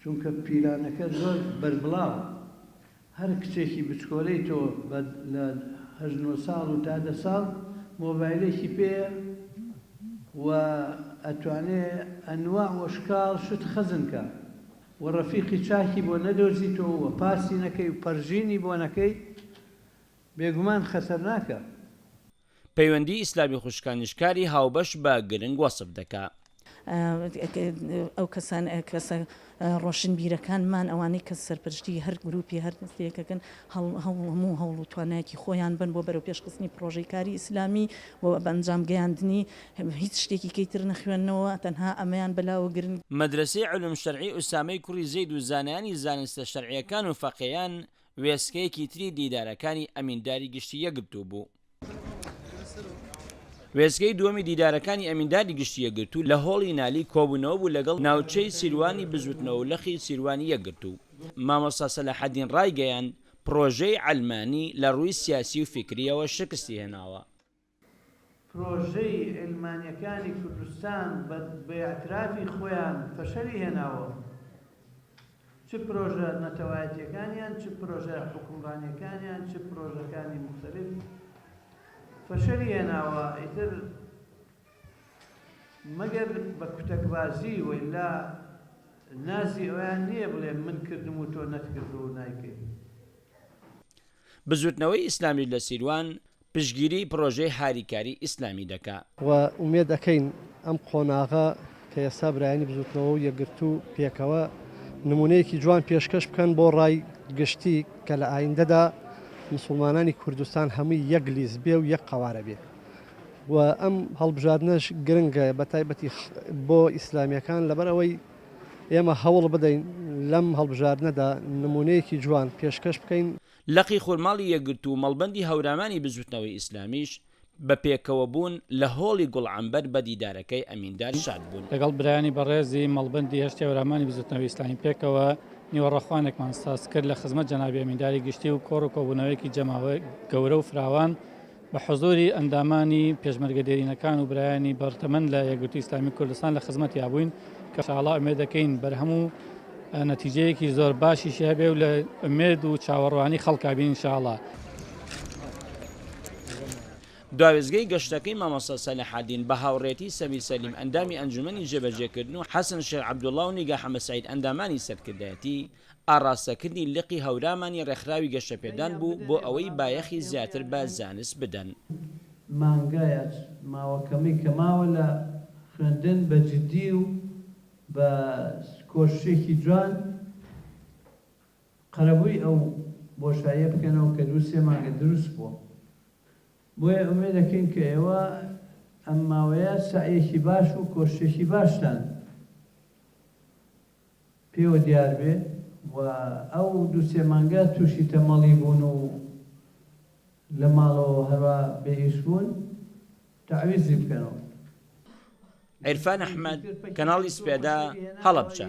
چونکە پیلانەکە زۆر بەربڵاوە هەر کچێکی بچکۆلەی تۆ بە لە هەشت نۆ ساڵ و تا دە ساڵ مۆبایلێکی پێیە و ئەتوانێ ئەنواع و شکاڵ شت خەزن کا و ڕەفیقی چاکی بۆ نەدۆزیتۆ و پاسی نەکەی و پەرژینی بۆ نەکەی بێگومان خەتەرناکە. پەیوەندی ئیسلامی خوشکانیش کاری هاوبەش بە گرنگ وەسف دەکا. ئەو کەسان، کەسە ڕۆشنبیرەکانمان، ئەوانەی کە سەرپەرشتیی هەر گرووپی، هەر دەستەیەک ئەکەن، هەوڵ، هەموو هەوڵ و توانایەکی خۆیان بەن بۆ بەرەوپێشخستنی پڕۆژەی کاری ئیسلامی و بەئەنجام گەیاندنی. هیچ شتێکی کەی تر نەخوێننەوە، تەنها ئەمەیان بەلاوە گرنگ. مەدرەسەی علوم شرعی ئوسامەی کوڕی زەید و زانایانی زانستە شەرعییەکان و فەقێیان وێستگەیەکی تری دیدارەکانی ئەمینداری گشتی یەکگرتوو بوو. وێستگەی دووەمی دیدارەکانی ئەمینداری گشتی یەکگرتوو لە هۆڵی نالی کۆبوونەوە بوو لەگەڵ ناوچەی سیروانی بزوتنەوە و لقی سیروانی یەکگرتوو. مامۆستا سەلاحەدین ڕایگەیاند، پڕۆژەی عەلمانی لە ڕووی سیاسی و فیکرییەوە شکستی هێناوە، پرۆژەی عیلمانیەکانی کوردستان بە بەئیعترافی خۆیان فەشەلی هێناوە چ پرۆژە نەتەوایەتیەکانیان چ پرۆژە حوکمڕانیەکانیان چ پرۆژەکانی موختەلیف فەشەلی هێناوە ئیتر مەگەر بە کوتەکبازی وەیلا نازی ئەویان نییە بڵێ من کردم و تۆ نەتکردوو نایکەی. بزوتنەوەی ئیسلامی لە سیروان پشتگیری پرۆژەی هاریکاری ئیسلامی دەکا. و ئومێد ئەکەین ئەم قۆناغە کە ئێستا برایانی بزوتنەوە و یەکگرتوو پێکەوە نمونەیەکی جوان پێشکەش بکەن بۆ ڕای گشتی کە لە ئایندەدا مسوڵمانانی کوردستان هەمووی یەک لیست بێ و یەک قەوارە بێ و ئەم هەڵبژاردنەش گرنگە بە تایبەتی بۆ ئیسلامیەکان لەبەر ئەوەی ئێمە هەوڵ بدەین لەم هەڵبژاردنەدا نمونەیەکی جوان پێشکەش بکەین. لقی خورماڵی یەکگرتوو و مەڵبەندی هەورامانی بزووتنەوەی ئیسلامیش بە پێکەوەبوون لە هۆڵی گوڵعەمبەر بە دیدارەکەی ئەمیندار شاد بوون. لەگەڵ برایانی بەڕێزی مەڵبەندی هەشتی هەورامانی بزووتنەوەی ئیسلامی پێکەوە نیوەڕۆخوانێکمان سازکرد لە خزمەت جەنابی ئەمینداری گشتی و کۆڕ و کۆبوونەوەیەکی جەماوەری گەورە و فراوان بە حوزووری ئەندامانی پێشمەرگە دێرینەکان و برایانی بەڕ تەمەن لە یەکگرتووی ئیسلامی کوردستان لە خزمەتیا بووین کە ئینشاڵا ئومێد دەکەین بەرهەم و نەتیجەیەکی زۆر باشیشی هەبێ و لە ئومێد و چاوەڕوانی خەڵکا بین ئینشاڵا. دواوێستگەی گەشتەکەی مامۆستا سەلاحەدین بە هاوڕێتی سەمیر سەلیم ئەندامی ئەنجومەنی جێبەجێکردن و حەسەن شێخ عەبدوڵڵا و نیگا حەمەسەعید ئەندامانی سەرکردایەتی ئاڕاستەکردنی لقی هەورامانی ڕێکخراوی گەشەپێدان بوو بۆ ئەوەی بایەخی زیاتر بە زانست بدەن. مانگایە ماوە کەمەی کە ماوە لە خوێندن بە جدی و بە کۆششێکی جوان قەرەبووی ئەو بۆشاییە بکەنەوە کە دوو سێ مانگە دروست بووە بۆیە ئومێد دەکەین کە ئێوە ئەم ماوەیە سەعیەکی باش و کۆششێکی باشتان پێوە دیار بێ و ئەو دوو سێ مانگە تووشی تەمەڵی بوون و لە ماڵەوە هەروا بێ ئیش بوون تەعویزی بکەنەوە. عیرفان ئەحمەد، کەناڵی سپێدە، هەڵەبجە.